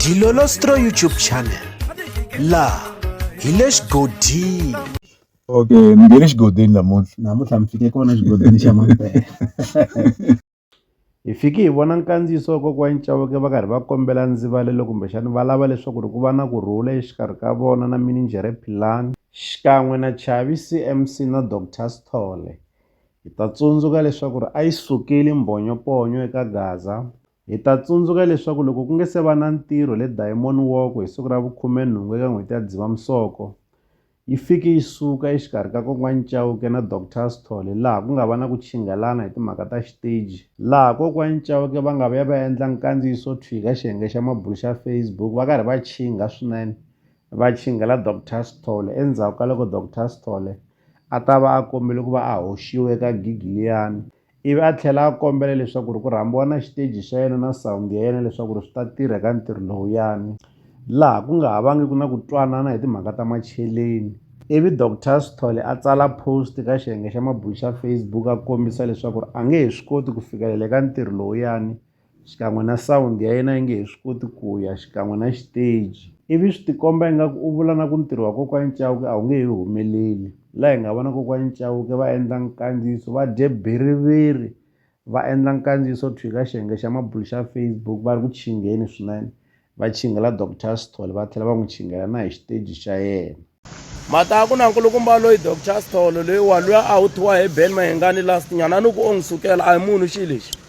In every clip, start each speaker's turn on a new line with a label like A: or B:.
A: Dilolostro YouTube channel laha hi le xigodini okay
B: mi nge le xigodini namuntlha namuntlha mi fike
C: kona xigodini xa mampela hi fike hi vona nkandziyiso wa kokwani Chauke va karhi va kombela ndzivalelo kumbexani va lava leswaku ri ku va na ku rhula exikarhi ka vona na mininjhere Philani xikan'we na Chavi CMC na Doctor Sithole hi ta tsundzuka leswaku ri a yi sukeli mbhonyoponyo eka Gaza Hi ta tsundzuka leswaku loko ku nge se va na ntirho le Diamond Walk hi siku ra vu 18 eka n'hweti ya Dzivamisoko, yi fike yi suka exikarhi ka Kokwani Chauke na Doctor Sithole laha ku nga va na ku chinghelana hi timhaka ta xiteji, laha Kokwani Chauke va nga vuya va endla nkandziyiso thwii ka xiyenge xa mabulo xa Facebook va karhi va chingha swinene va chinghela Doctor Sithole endzhaku ka loko Doctor Sithole a ta va a kombile ku va a hoxiwe eka gig liyani. ivi a tlhela a kombela leswaku ri ku rhambiwa na xiteji xa yena na sawundi ya yena leswaku ri swi ta tirha eka ntirho lowuyani laha ku nga ha vangiki na ku twanana hi timhaka ta macheleni ivi doctor sithole a tsala post ka xiyenge xa mabulo xa facebook a kombisa leswaku ri a nge he swi koti ku fikelela eka ntirho lowuyani xikan'we na sound ya yena yi nge he swi koti ku ya xikan'we na xiteji ivi swi tikomba ingaku u vula na ku ntirho wa kokwani Chauke a wu nge he humeleli la hi nga vona kokwani Chauke va endla nkandziyiso va dye bhiriviri va endla nkandziyiso thwii ka xiyenge xa mabulu xa Facebook va ri ku tshingeni swinene. va chingela Dr Sithole va tlhela va n'wi chingela na hi xiteji xa yena. Mhaka ku
D: na nkulukumba loyi Dr Sithole loyi wa luya a wu thiwa hi Ben Mahengani last nyana a ni ku o n'wi sukela a hi munhu xi lexi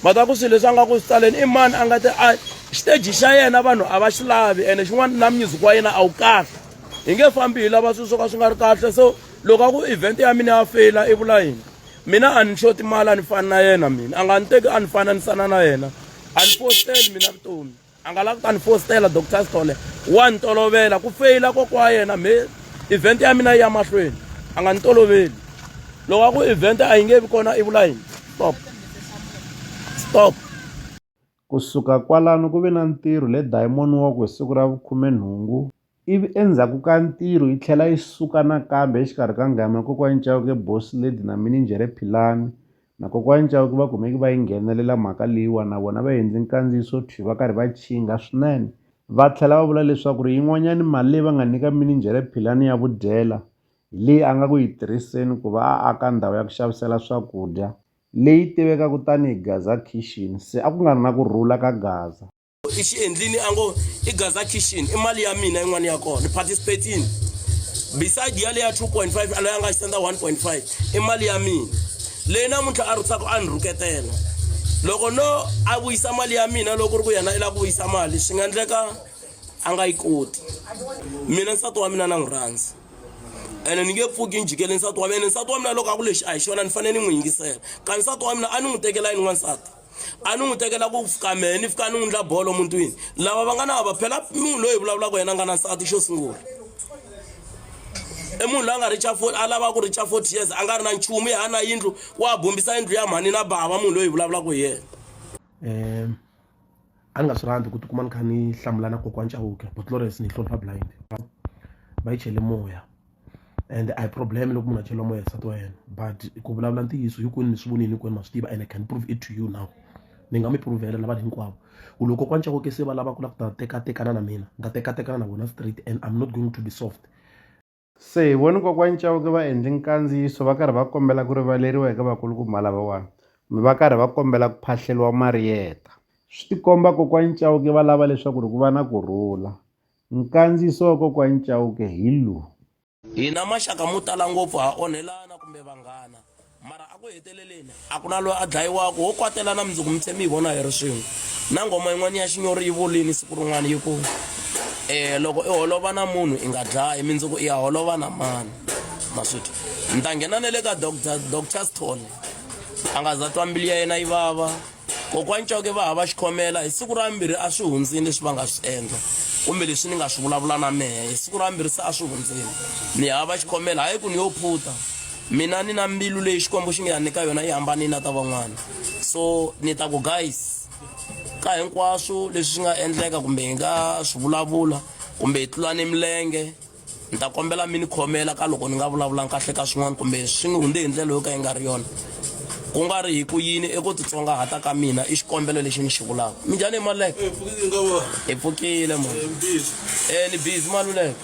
D: mhaka ku swilo leswi a nga ku swi taleni i mani a nga te a xiteji xa yena vanhu a va xi lavi ene xin'wana na music wa yena a wu kahle hi nge fambi hi lava swilo swo ka swi nga ri kahle so loko a ku event ya mina ya feyila i vula yini mina a ni xoti mali a ni fani na yena mina a nga ni teki a ni fani a ni sana na yena a ni fosteli mina vutomi a nga lavi ku ta ni fostela doctor stole wa ni tolovela ku feyila kokwa wa yena me event ya mina yi ya mahlweni a nga ni toloveli loko a ku event a yi nge vi kona i vula yini stop stop Ku
C: suka kwalano ku ve na ntirho le dayimoniwoko hi siku ra vukhume-nhungu, ivi endzhaku ka ntirho yi tlhela yi suka nakambe exikarhi ka ngama ya Kokwani Chauke, Boss Lady na Mininjhere Philani, na Kokwani Chauke va kumeke va yi nghenelela mhaka leyiwa na vona va endle nkandziyiso thwi va karhi va chinga swinene, va tlhela va vula leswaku ri yin'wanyani mali leyi va nga nyika Mininjhere Philani ya vudyela hi leyi a nga ku yi tirhiseni ku va a aka ndhawu ya ku xavisela swakudya leyi tivekaka tani hi Gaza Kitchen, se a ku nga ri na ku rhula ka Gaza. I xi endlini
D: a ngo i Gaza Kitchen, i mali ya mina yin'wana ya kona, ni participate-ini. Beside ya leya 2.5 a loyi a nga xi senda 1.5 i mali ya mina leyi namuntlha a rhutsaka a ni rhuketela. Loko no a vuyisa mali ya mina loko ku ri ku yena i lava ku vuyisa mali swi nga endleka a nga yi koti. Mina nsati wa mina na n'wi rhandza. ene ni nge pfuki ni jikele nsati wa mina nsati wa mina loko a ku lexi a hi xona ni fanele ni n'wi yingisela ka nsati wa mina a ni n'wi tekela yini n'wansati a ni n'wi tekela ku fika mehe ni fika ni n'wi ndla bolo mutwini lava va nga na vava phela munhu loyi hi vulavulaka yena a nga na nsati xo sungula i munhu loyi a nga richa fo a lava ku richa forty years a nga ri na nchumu ya ha na yindlu wa bumbisa yindlu ya mhani na bava munhu loyi hi vulavulaka hi yena um
E: a ni nga swi rhandzi ku tikuma ni kha ni hlamula na kokwana Chauke but Florence ni yi hlonipha blind va yi chele moya and a hi problem loko munhu a cheriwa moya hi nsati wa yena but ku vulavula ntiyiso hinkwenu mi swi vonile hinkwenu ma swi tiva and I can prove it to you now ni nga mi prove-ela na vanhu hinkwavo ku loko kokwana Chauke se va lava ku lava ku ta tekatekana na mina ni ta tekatekana na vona straight and I'm not going to be soft. Se hi
C: vone Kokwani Chauke va endle nkandziyiso va karhi va kombela ku rivaleriwa eka vakulukumba lavawani kumbe va karhi va kombela ku phahleriwa Marieta. Swi tikomba Kokwani Chauke va lava leswaku ri ku va na ku rhula. Nkandziyiso wa Kokwani Chauke hi lowu. Hina
D: maxaka mo tala ngopfu ha onhelana kumbe vanghana. mara a ku heteleleni a ku na loyi a dlayiwaka wo kwatela na mundzuku mi tlhe mi yi vona hi ri swin'we na ngoma yin'wana ya xinyori yi volini siku rin'wana yi ku um loko i holova na munhu i nga dlayi mindzuku i ya holova na mani maswiti ni ta nghena na le ka doctor doctor stone a nga za twa mbili ya yena yi vava kokwani coke va hava xikhomela hi siku ra mbirhi a swi hundzini leswi va nga swi endla kumbe leswi ni nga swi vulavula na mehe hi siku ra mbirhi se a swi hundzini ni hava xikhomela hayi ku ni yo phuta mina ni na mbilu leyi xikwembu xi nge ya nyika yona yi hambanini na ta van'wana so ni ta ku guys ka hinkwaswo leswi swi nga endleka kumbe hi nga swi vulavula kumbe hi tlula ni milenge Ni ta kombela mi ni khomela ka loko ni nga vulavulangi kahle ka swin'wana kumbe swi ni hundze hi ndlela yo ka yi nga ri yona ku nga ri hi ku yini eku titsongahata ka mina i xikombelo lexi ni xi vulaka minjhani hi maluleke hi pfukile ma e ni busy maluleke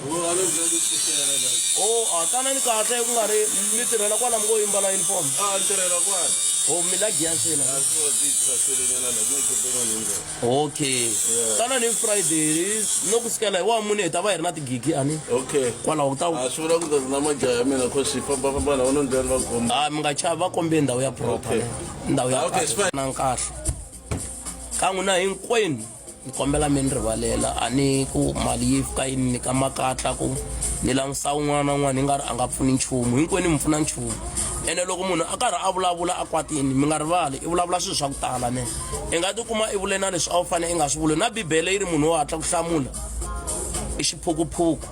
D: o a tanani kahle ku nga ri mi tirhela kwala mi ngo yimbala uniform o mi la giyansina okay yeah. tana ni friday no ku sikela hi wa mune hi ta va hi ri na tigigi ani okay kwalaho ku ta a swi vula ku ta na majaya ya mina cause fambafamba na vona ndlela va komba a ah, mi nga chava va kombe ndhawu ya proper ndhawu ya ah, na nkahle ka n'wina hinkwenu ni kombela mi ni rivalela a ni ku mali yi fika yi ni nyika makatla ku ni langusa un'wana na un'wana hi nga ri a nga pfuni nchumu hinkwenu mi pfuna nchumu ene loko munhu a karhi a vulavula a kwatini mi nga rivali i vulavula swilo swa ku tala ne i nga tikuma i vule na leswi a wu fanele i nga swi vuli na bibele yi ri munhu wo hatla ku hlamula i xiphukuphuku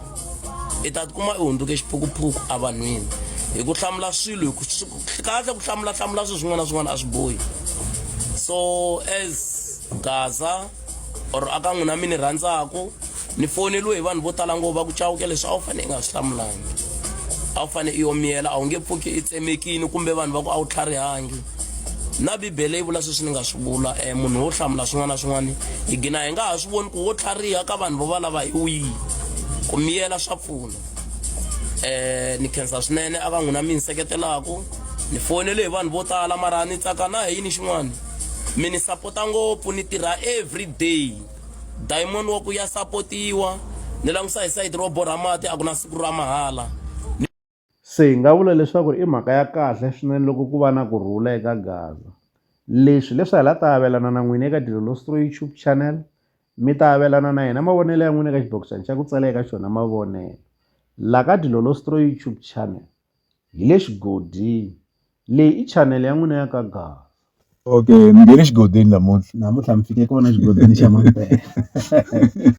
D: i ta tikuma i hundzuke xiphukuphuku evanhwini hi ku hlamula swilo hi ku kahle ku hlamula hlamula swilo swin'wana na swin'wana a swi bohi so as gaza or aka n'wina mi ni rhandzaku ni foneliwe hi vanhu vo tala ngopfu va ku cawuke leswi a wu fanele i nga swi hlamulangi a wu fanele i omiyela a wu nge pfuki i tsemekini kumbe vanhu va ku a wu tlharihangi na bibele yi vula sweswi ni nga swi vula um munhu wo hlamula swin'wana na swin'wana hi gina hi nga ha swi voni ku wo tlhariha ka vanhu vo va lava hi wihi ku miyela swa pfuna um ni khensa swinene a ka n'wina mi ni seketelaka ni fonele hi vanhu vo tala mara ni tsaka na hi yini xin'wana mi ni sapota ngopfu ni tirha every day Diamond wa ku ya sapotiwa ni langusa hi sayiti ro borha mati a ku na siku ra mahala
C: se hi nga vula leswaku i mhaka ya kahle swinene loko ku va na ku rhula eka gaza leswi leswi hi la ta avelana na n'wina eka dilolo stro youtube channel mi ta avelana na hina mavonelo ya n'wina eka xibokisana xa ku tsala eka xona mavonelo la ka dilolo stro youtube channel Hi le xigodini. Leyi i chanele ya n'wina ya ka Gaza. Okay, mi nghene
B: xigodini
C: namuntlha. Namuntlha mi fike
B: kona
C: xigodini xa
B: Mampela.